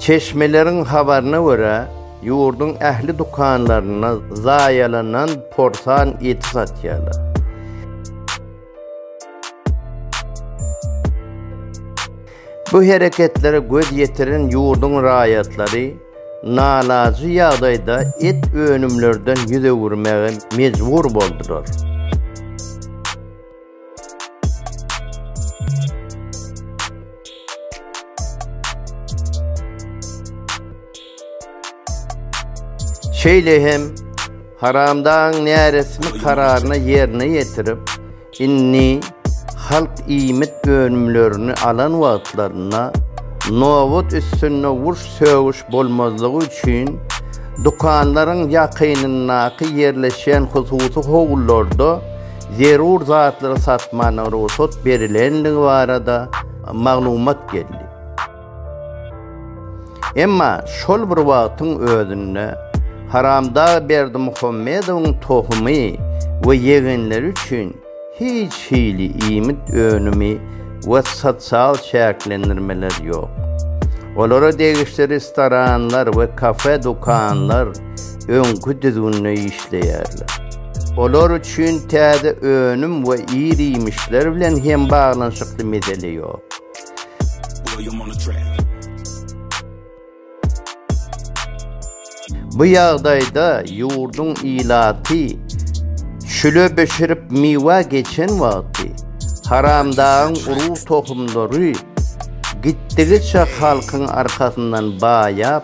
Çeşmeleriň habaryna görä, ýurduň ähli dükanlarynda zaýalanan porsan eti satýarlar. Bu hereketlere göz ýetiren ýurduň raýatlary nalaýyk ýagdaýda et önümlerden ýüz öwürmäge mejbur boldular. Şeýle hem haramdaň näresmi kararyna ýerine ýetirip, indi halk iýmit önümlerini alan wagtlarynda nobat üstünde urş sögüş bolmazlygy üçin dükanlaryň ýakynyndaky ýerleşýän hususy howlularda zerur zatlary satmagyna rugsat berilendigi barada maglumat geldi. Emma şol bir wagtyň özünde Haramdag Berdimuhammedowyň tohumy we ýegenleri üçin hiç hili iýmit önümi we sosial çäklendirmeler ýok. Olara degişli restoranlar we kafe-dükanlar öňki düzgünde işleýärler. Olar üçin täze önüm we ir-iýmişler bilen hem baglanyşykly mesele ýok. Bu ýagdaýda ýurduň ilaty çüle bişirip miwe geçen wagty, haramdagyň urug tohumlary gitdigiçe halkyň arkasyndan baýap,